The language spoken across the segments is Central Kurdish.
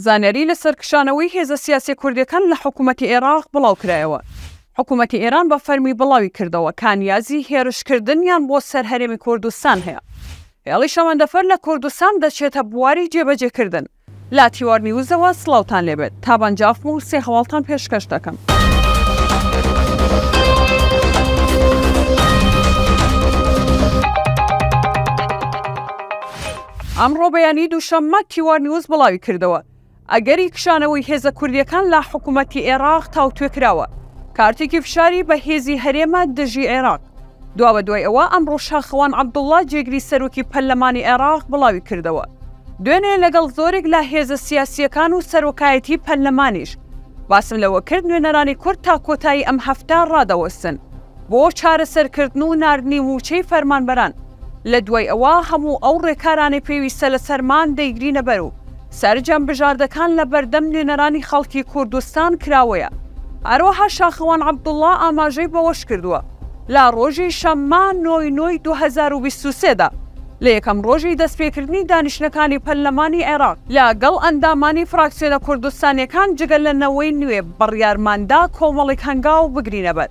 زانیاری لەسەر کشانەوەی هێزە سیاسیە کوردیەکان لە حکومەتی ئێراق بڵاوکرایەوە حکومەتی ئێران بە فەرمی بڵاوی کردەوە کە نیازی هێرش کردنیان بۆ سەر هەرێمی کوردستان هەیە هێڵی شەمەندەفەر لە کوردستان دەچێتە بواری جێبەجێ کردن. لە تیوار نیوزەوە سڵاوتان لێبێت تابان جافم و سێ هەواڵتان پێشکەش دەکەم. ئەمڕۆ بەیانی دووشەممە تیوارنیوز بڵاویکردەوە، ئەگەری کشانەوەی هێزە کوردییەکان لە حکومەتی عێراق تاوتوێکراوە، کارتێکی فشاری بەهێزی هەرێمە دژی عێراق. دوابەدوای ئەوە ئەمڕۆ شاخەوان عەبدوڵڵا جێگری سەرۆکی پەرلەمانی عێراق بڵاویکردەوە، دوێنێ لەگەڵ زۆرێک لە هێزە سیاسییەکان و سەرۆکایەتی پەرلەمانیش باسم لەوەکرد نوێنەرانی کورد تا کۆتایی ئەم هەفتە ڕادەوەستن. بۆ چارەسەرکردن و ناردنی مووچەی فەرمانبەران، لە دوای ئەوە هەموو ئەو ڕێکارانەی پێویستە لەسەرمان دەیگرینە بەر و سەرجەم بژاردەکان لە بەردەم نوێنەرانی خەڵکی کوردستان کراوەیە. هەروەها شاخەوان عەبدوڵا ئاماژەی بەوەش کردووە، لە ڕۆژی شەممە نۆ ی نۆ ی دوو هەزار و بیست و سێ دا لە یەکەم ڕۆژی دەستپێکردنی دانیشتنەکانی پەرلەمانی عێراق، لە گەڵ ئەندامانی فراکسیۆنە کوردستانییەکان جگە لە نەوەی نوێ بڕیارماندا کۆمەڵێک هەنگاو بگرینە بەر.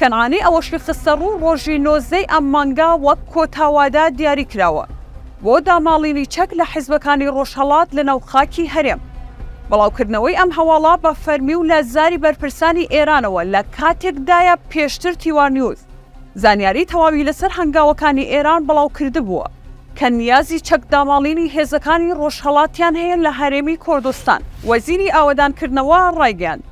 کەنعانی ئەوەشی خستەڕوو، ڕۆژی نۆزدە ی ئەم مانگە وەک کۆتا وادە دیاریکراوە بۆ داماڵینی چەک لە حیزبەکانی ڕۆژهەڵات لەناو خاکی هەرێم. بڵاوکردنەوەی ئەم هەواڵە بە فەرمی و لە زاری بەرپرسانی ئێرانەوە لە کاتێکدایە پێشتر تیوانیوز زانیاری تەواوی لەسەر هەنگاوەکانی ئێران بڵاوکردبووە کە نیازی چەک داماڵینی هێزەکانی ڕۆژهەڵاتیان هەیە لە هەرێمی کوردستان. وەزیری ئاوەدانکردنەوە ڕایگەیاند،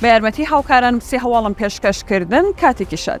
بە یارمەتی هاوکارانم سێ هەواڵم پێشکەش کردن کاتێکی شەر.